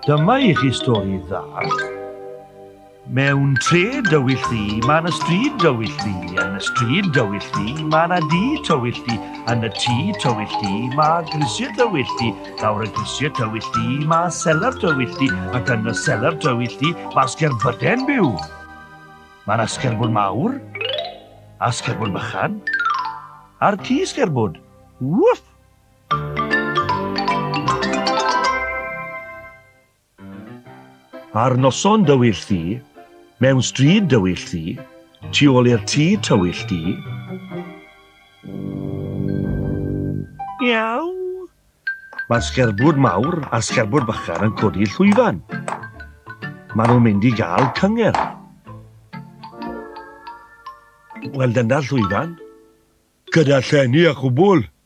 Dyma i chi stori dda. Mewn tre dywyll ddi, mae yna stryd dywyll ddi. Yn y stryd dywyll ddi, mae yna dŷ tywyll ddi. Yn y tŷ tywyll ddi, mae grisiau dywyll ddi. Lawr y grisiau tywyll ddi, mae selar dywyll ddi. Ac yn y selar dywyll ddi, mae sgerbyden byw. Mae yna sgerbwd mawr, a sgerbwd bychan, a'r ci sgerbwd. Wwff! Ar noson dywyll ddu, mewn stryd dywyll ddu, tu ôl i'r tŷ tywyll du. Miaw! Mae sgerbwd mawr a sgerbwd bychan yn codi llwyfan. Maen nhw'n mynd i gael cyngerdd. Wel, dyna llwyfan. Gyda llenni a chwbl,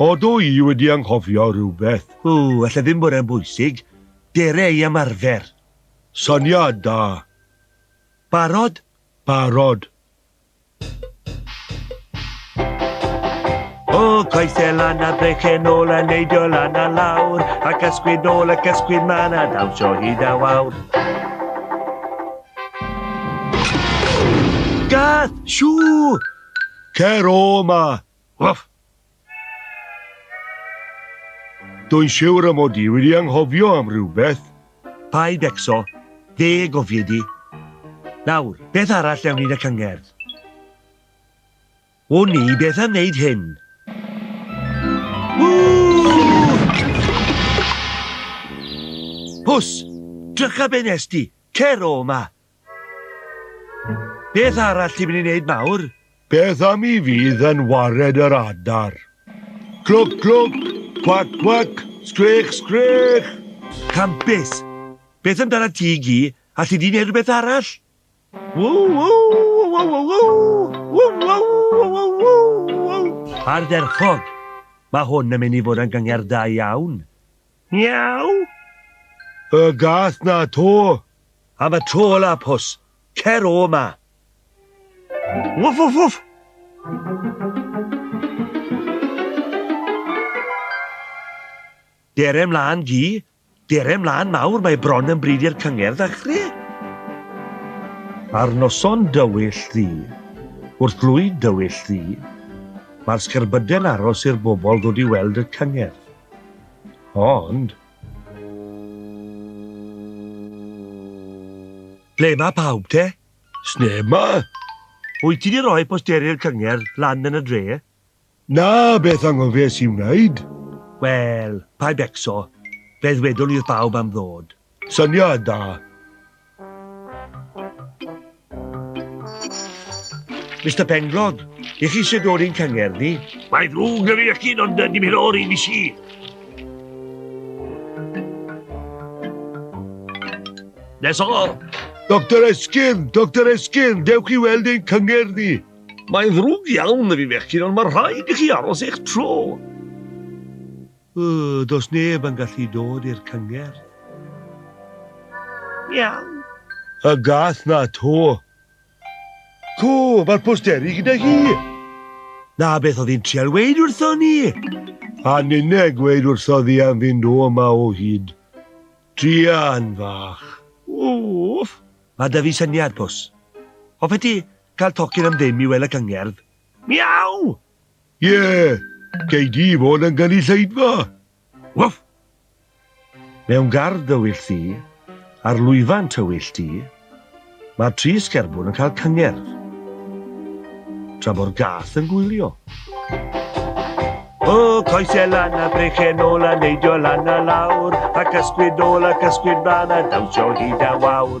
O, dw i wedi anghofio rhywbeth. O, alla ddim bod e'n bwysig. Dere i ymarfer. Syniad da. Barod? Barod. O, coese lan a brechen ôl a neidio lan a lawr, ac ysgwyd nôl ac ysgwyd man a dawnsio hyd a wawr. Gath! Siŵ! Cer o 'ma! Wff! Dwi'n siwr y mod i wedi anghofio am rywbeth. Paid becso, fe gofiei di. Nawr, beth arall mewn un y cyngerdd? O ni, beth am wneud hyn? Pws! Drycha be nes di! Cer o 'ma! Beth arall ti'n mynd i wneud nawr? Beth am i fi ddynwared yr adar? Clwc, clwc, cwac, cwac, sgrech, sgrech! Campus! Beth amdana ti, Gi? Alli di wneud rhywbeth arall? Ardderchog! Mae hwn yn mynd i fod yn gyngerdd da iawn. Miaw! Y gath 'na 'to! Am y tro ola, Pws! Cer o 'ma! Wwff wwff wwff! Dere 'mlan, Gi! Dere 'mlan mawr, mae bron yn bryd i'r cyngerdd ddechre! Ar noson dywyll ddu, wrth lwyd dywyll ddu, mae'r sgerbyde'n aros i'r bobl ddod i weld y cyngerdd. Ond. Ble mae pawb te? Sneb ma! Wyt ti di roi posteri'r cyngerdd lan yn y dre? Na, beth angofes i wneud? Wel, paid becso. Fe ddwedwn i'r pawb am ddod. Syniad da! Mister Penglog, i chi sydd o'r un cyngerdd ni? Mae ddrwg na fi ac un ond dim hyn o'r un i si. Nes o! Doctor Esgyn, Doctor Esgyn, dewch i weld ein cyngerdd ni. Mae'n ddrwg iawn na fi fechgyn ond mae rhaid i chi aros eich tro. Yy, does neb yn gallu dod i'r cyngerdd? Miaw. Y gath 'na 'to. Co, mae'r posteri gyda hi! Na beth oedd hi'n trial weud wrthon ni! A ninne gweud wrthodd hi am fynd o 'ma o hyd. Druan fach. Wff! Mae 'da fi syniad, Pws. Hoffet ti cael tocyn am ddim i weld y cyngerdd? Miaw! Ie, gei di fod yn gynulleidfa! Wff! Mewn gardd dywyll di, ar lwyfan tywyll di, mae'r tri sgerbwn yn cael cyngerdd, tra bo'r gath yn gwylio. O, coesau lan a brechen ôl a neidio lan a lawr, ac ysgwyd ôl ac ysgwyd mlaen a dawnsio hyd a wawr.